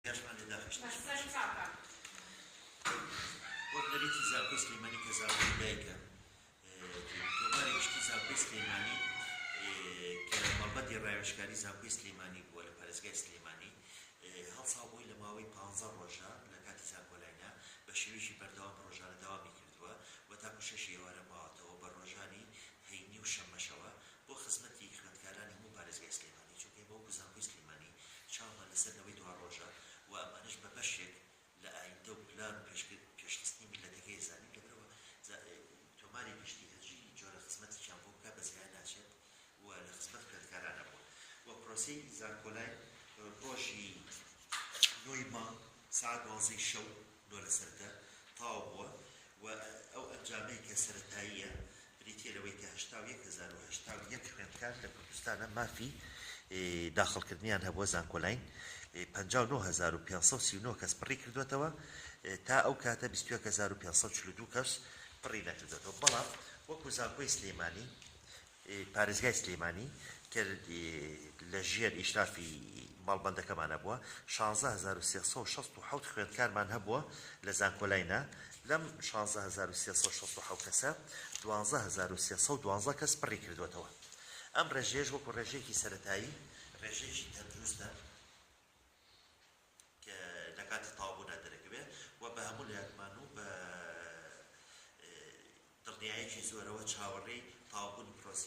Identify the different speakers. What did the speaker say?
Speaker 1: یاشمان لێ داخشت بە سەر چاکە. وەک نەریتی زانکۆی سلیمانی کە زانکۆی دایکە تۆماری گشتی زانکۆی سلیمانی کە مەڵبەندی ڕاوێژکاری زانکۆی سلیمانی بووە لە پارێزگای سلیمانی هەڵسا بووی لە ماوەی پ ڕۆژە لە کاتی زانکۆلاینە بە شێوێکی بەردەوام پرۆژانە داوامی کردووە و تاکو شەش ئێوارە ماوەتەوە بە ڕۆژانی هەینی و شەمەشەوە بۆ خزمەتی خوێندکارانی هەموو پارێزگای سلیمانی چونکە ئێمە وەکو زانکۆی سلیمانی چاومان لەسەر نەوەی دواڕۆژە و ئەمانەش بە بەشێک لە ئایندە و پلان و پێشخستنی میللەتەکەی ئەزانین لەبەرئەوە تۆماری گشتی هەر جۆرە خزمەتێکیان بۆ بکا بەزیان ناچێت و لە خزمەت خوێندکاران ئەبووە و پرۆسەی زانکۆلاین ڕۆژی نۆی مانگ سەعات دوانزەی شەو نۆ لەسەر دە تەواو بووە و ئەو ئەنجامەی کە سەرەتاییە بریتییە لەوەی کە هەشتا و یەک هەزار و هەشتا و یەک خوێندکار لە کوردستانە مافی داخڵکردنیان هەبووە زانکۆلاین، پەنجا و نۆ هەزار و پێنج سەد و سی و نۆ کەس پڕی کردووەتەوە، تا ئەو کاتە بیست و یەک هەزار و پێنج سەد و چل و دوو کەس پڕی نەکردووەتەوە، بەڵام وەکو زانکۆی سلێمانی پارێزگای سلێمانی کە لە ژێر ئیشرافی مەڵبەندەکەمانە بووە، شانزە هەزار و سێ سەد و شەست و حەوت خوێندکارمان هەبووە لە زانکۆلای نا، لەم شانزە هەزار و سێ سەد و شەست و حەوت کەسە، دوانزە هەزار و سێ سەد و دوانزە کەس پڕی کردووەتەوە. ئەم ڕێژەیەش وەکو ڕێژەیەکی سەرەتایی، ڕێژەیەکی تەندروستە. کە لە کاتی تەواوبوونا دەرەکەوێت و بە هەموو لایەکمان و بە دڵنیایەکی زۆرەوە چاوەڕێی تەواوبوونی پرۆسەی